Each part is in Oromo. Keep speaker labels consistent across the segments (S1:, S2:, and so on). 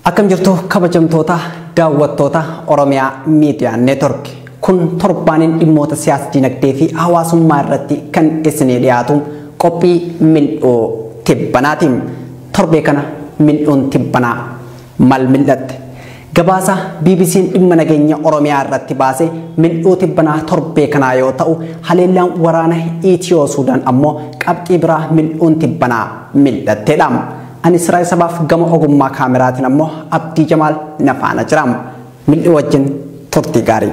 S1: Akkam jirtu kabajamtoota daawwattoota Oromiyaa Miidiyaa Neetwork. Kun torbaaniin dhimmoota siyaas dinagdee fi hawaasummaa irratti kan isinii dhiyaatu qophii mil'oo tibbanaati. Torbee kana mil'uun tibbanaa mal mil'atte? Gabaasa BBC'n dhimma nageenya Oromiyaa irratti baase mil'uu tibbanaa torbee kanaa yoo ta'u, haleellaan waraana Itiyoo Suudaan ammoo qabxii biraa mil'uun tibbanaa mil'atteedha. Ani Siraay Sabaaf gama ogummaa kaameraatiin ammoo Abdii Jamaal na faana jira. Mil'uu wajjin turtii gaarii.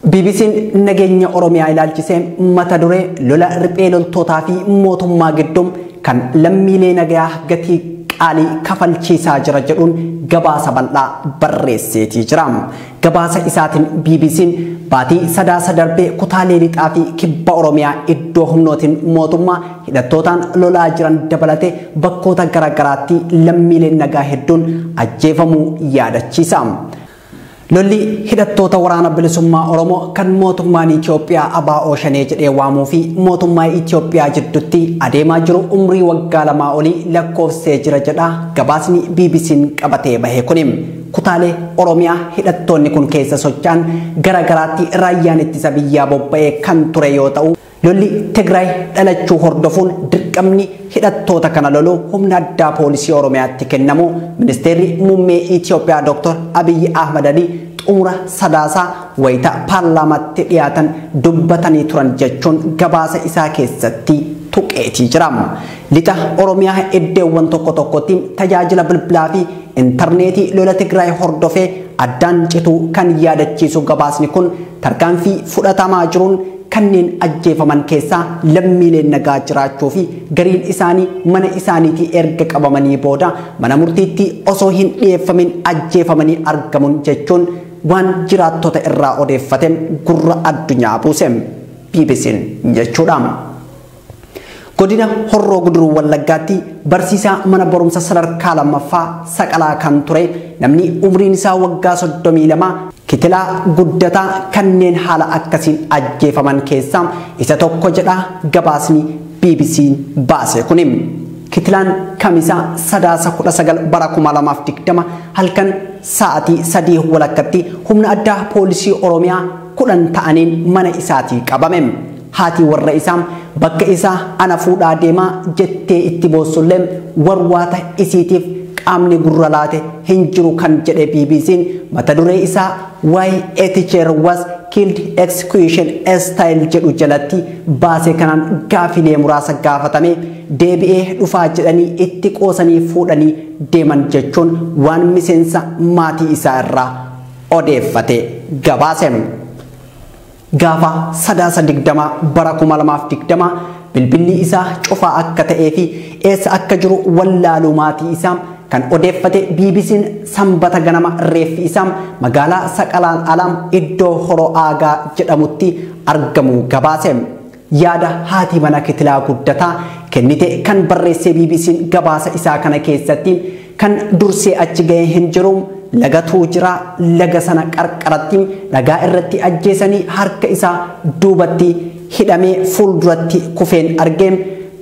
S1: BBC'n nageenya Oromiyaa ilaalchisee mata duree lola riphee loltootaa fi mootummaa gidduu kan lammiilee nagayaa gatii qaalii kafalchiisaa jira jedhuun gabaasa bal'aa barreesseetii jira. Gabaasa isaatiin BBC'n baatii sadaasa darbee kutaalee lixaa fi kibba Oromiyaa iddoo humnootiin mootummaa hidhattootaan lolaa jiran dabalatee bakkoota garaagaraatti lammiileen nagaa hedduun ajjeefamuu yaadachiisa. Lolli hidhattoota waraana bilisummaa Oromoo kan mootummaan Itoophiyaa ABO Shanee jedhee waamuu fi mootummaa Itoophiyaa jiddutti adeemaa jiru umrii waggaa lamaa olii lakkoofsee jira jedha gabaasni BBC'n qabatee bahe kuni. Kutaalee Oromiyaa hidhattoonni kun keessa socho'an gara garaatti raayyaan ittisa biyyaa bobba'ee kan ture yoo ta'u, Lolli Tigraay dhalachuu hordofuun dirqamni hidhattoota kana loluu humna addaa poolisii Oromiyaatti kennamu ministeerri muummee Itoophiyaa Dr. Abiyyi Ahmad Ali xumura sadaasaa wayita paarlaamaatti dhiyaatan dubbatanii turan jechuun gabaasa isaa keessatti tuqeetii jira. Lixa Oromiyaa iddoowwan tokko tokkotti tajaajila bilbilaa fi intarneetii lola Tigraay hordofee addaan cituu kan yaadachiisu gabaasni kun Tarkaanfii fudhatamaa jiruun kanneen ajjeefaman keessaa lammiileen nagaa jiraachuu fi gariin isaanii mana isaaniitii erga qabamanii booda mana murtiitti osoo hin dhiyeeffamin ajjeefamanii argamun jechuun waan jiraattota irraa odeeffate gurra addunyaa buuse. BBCn jechuudha. Godina Horroo Guduruu Wallaggaatti barsiisaa mana barumsa sadarkaa lammaffaa Saqalaa kan ture namni umriin isaa waggaa 32 kitilaa guddataa kanneen haala akkasiin ajjeefaman keessaa isa tokko jedha gabaasni BBC baase kuni. Kitilaan Kamisa Sadaasa 19 bara 2020 halkan sa'aatii 3 walakkatti humna addaa poolisii Oromiyaa kudhan ta'aniin mana isaatii qabame. Haati warra isaa bakka isaa ana fuudhaa deemaa jettee itti boossullee warwaata isiitiif qaamni gurra laate hin jiru kan jedhe BBC'n mata duree isaa Why a Teacher Was Killed Execution Style jedhu jalatti baase kanaan gaafilee muraasa gaafatamee deebi'ee dhufaa jedhanii itti qoosanii fuudhanii deeman jechuun waan miseensa maatii isaa irraa odeeffate gabaase. Gaafa Sadaasa 20 bara 2020 bilbilli isaa cufaa akka ta'ee fi eessa akka jiru wallaaluu maatii isaa kan odeeffate BBC'n Sambata ganama reeffi isaa magaalaa Saqalaan ala iddoo Horoo Aagaa jedhamutti argamuu gabaase. Yaada haati mana Kitilaa Guddataa kennite kan barreessee BBCn gabaasa isaa kana keessatti kan dursee achi ga'e hin jiru, lagatu jira, laga sana qarqaratti dhagaa irratti ajjeesanii harka isaa duubatti hidhamee fuulduratti kufeen arge,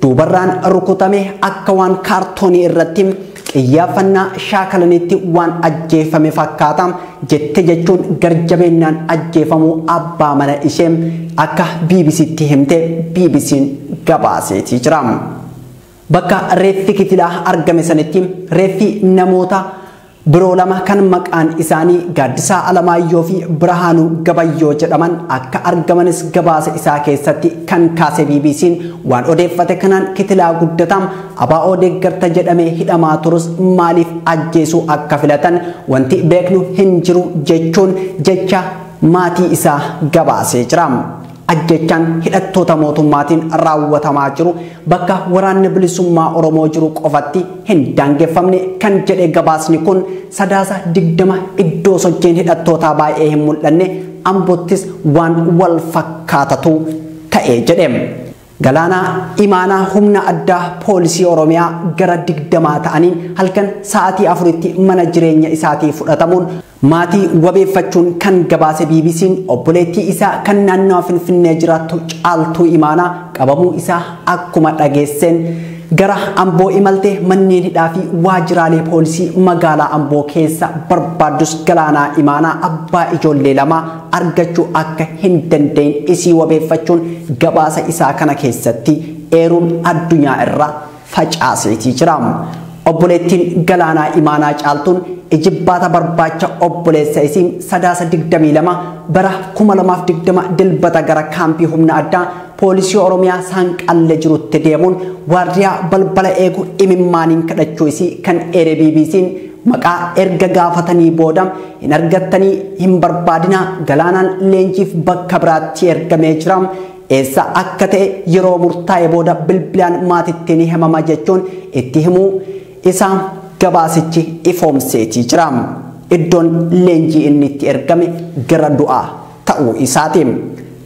S1: duubarraan rukutame akka waan kaartoonii irratti Qiyyaaffannaa shaakalaniitti waan ajjeeffame fakkaata jette jechuun garjabeennaan ajjeefamuu abbaa mana ishee akka BBCtti himte BBCn gabaaseetii jira. Bakka reeffi kifilaa argame sanitti reeffi namoota biroo lama kan maqaan isaanii Gaaddisaa Alamaayyoo fi Birhaanuu Gabayyoo jedhaman akka argamanis gabaasa isaa keessatti kan kaase BBCn waan odeeffate kanaan kitilaa guddataa ABO deeggarta jedhamee hidhamaa turus maaliif ajjeesuu akka filatan wanti beeknu hin jiru jechuun jecha maatii isaa gabaasee jira. Ajjechaan hidhattoota mootummaatiin raawwatamaa jiru bakka waraanni bilisummaa Oromoo jiru qofatti hin daangeffamne kan jedhe gabaasni kun sadaasa 20 iddoo sochiin hidhattootaa baay'ee hin mul'anne Ambottis waan wal fakkaatatu ta'e jedhe. Galaanaa Imaanaa humna addaa poolisii Oromiyaa gara digdamaa ta'aniin halkan sa'aatii afuritti mana jireenya isaatii fudhatamuun maatii wabeeffachuun kan gabaase BBC'n obboleettii isaa kan naannawa Finfinnee jiraattu Caaltuu Imaanaa qabamuu isaa akkuma dhageesseen gara Amboo imalte manneen hidhaa fi waajiraalee poolisii magaalaa Amboo keessa barbaaddus Galaanaa Imaanaa abbaa ijoollee lamaa argachuu akka hin danda'in isii wabeeffachuun gabaasa isaa kana keessatti eeruun addunyaa irra facaaseetii jira. Obboleettiin Galaanaa Imaanaa Caaltuun ijibbaata barbaacha obboleessa isii Sadaasa 22 bara 2020 Dilbata gara kaampii humna addaa poolisii Oromiyaa Saanqallee jirutti deemuun waardiyaa balbala eegu imimmaaniin kadhachuu isii kan eere BBC'n maqaa erga gaafatanii booda Hin argattanii hin barbaadinaa galaanaan leenjiif bakka biraatti ergamee jira. Eessa akka ta'e yeroo murtaa'e booda bilbilaan maatitti ni himama jechuun itti himuu isaa gabaasichi ifoomseetii jira. Iddoon leenjii inni itti ergame gara du'aa ta'uu isaati.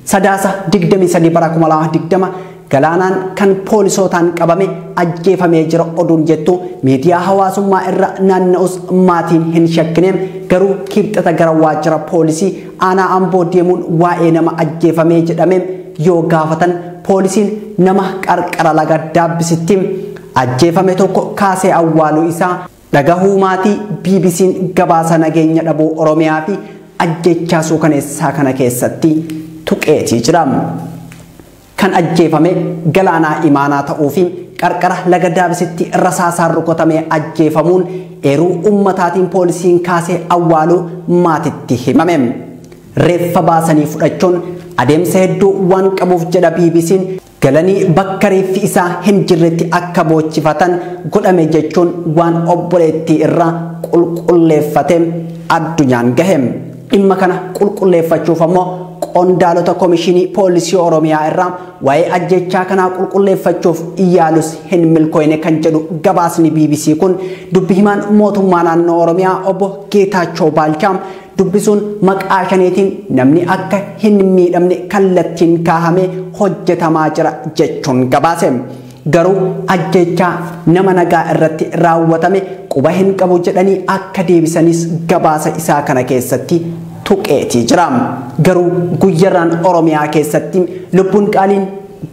S1: Sadaasa 23 bara 2020 Galaanaan kan poolisootaan qabame ajjeefamee jira oduun jettu miidiyaa hawaasummaa irra naanna'us maatiin hin shakkine garuu kiibxata gara waajjira poolisii aanaa amboo deemuun waa'ee nama ajjeefamee jedhame yoo gaafatan poolisiin nama qarqara laga daabbisitti ajjeefame tokko kaasee awwaaluu isaa Dhagahuu maatii BBC'n gabaasa nageenya dhabuu Oromiyaa fi ajjeechaa suukaneessaa kana keessatti tuqeetii jira. Kan ajjeefame Galaanaa Imaanaa ta'uu fi qarqara laga Daabisitti rasaasaan rukutamee ajjeefamuun eeruu ummataatiin poolisiin kaasee awwaaluu maatitti himame. Reeffa baasanii fudhachuun adeemsa hedduu waan qabuuf jedha BBC'n galanii bakka reeffi isaa hin jirretti akka boochifatan godhame jechuun waan obboleettii irraa qulqulleeffate addunyaan gahe. Dhimma kana qulqulleeffachuuf ammoo qondaalota komishinii poolisii Oromiyaa irraa waa'ee ajjechaa kanaa qulqulleeffachuuf yaalus hin milkooyne kan jedhu gabaasni BBC kun dubbi himaan mootummaa naannoo Oromiyaa obbo Geetaachoo Baalchaa dubbisuun maqaa shaneetiin namni akka hin miidhamne kallattiin kaahamee hojjetamaa jira jechuun gabaase. Garuu ajjeechaa nama nagaa irratti raawwatame quba hin qabu jedhanii akka deebisanis gabaasa isaa kana keessatti tuqeetii jira. Garuu guyyarraan Oromiyaa keessatti lubbuun qaaliin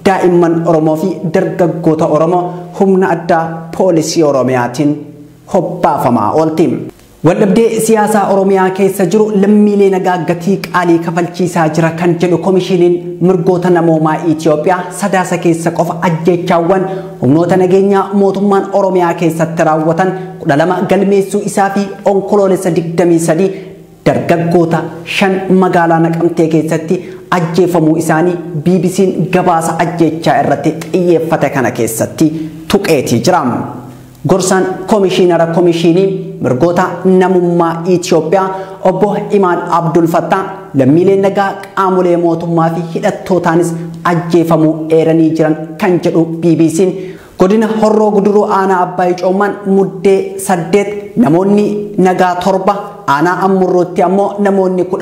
S1: daa'imman Oromoo fi dargaggoota Oromoo humna addaa poolisii Oromiyaatiin hobbaafamaa oolti. Waldhabdee siyaasaa Oromiyaa keessa jiru lammiilee nagaa gatii qaalii kafalchiisaa jira kan jedhu Komishiiniin Mirgoota Namoomaa Itiyoophiyaa sadaasa keessa qofa ajjeechaawwan humnoota nageenyaa mootummaan Oromiyaa keessatti raawwatan 12 galmeessuu isaa fi Onkoloolessa 23 dargaggoota shan magaalaa Naqamtee keessatti ajjeefamuu isaanii BBC'n gabaasa ajjeechaa irratti xiyyeeffate kana keessatti tuqeetii jira. Gorsaan Komishiinara Komishiinii Mirgoota Namummaa Itiyoophiyaa obbo Imaan Abdul Fattaa lammiileen nagaa qaamolee mootummaa fi hidhattootaanis ajjeefamuu eeranii jiran kan jedhu BBC'n godina Horroo Guduruu aanaa Abbaa Icoommaan muddee saddeet namoonni nagaa torba aanaa Ammurrootti ammoo namoonni kudha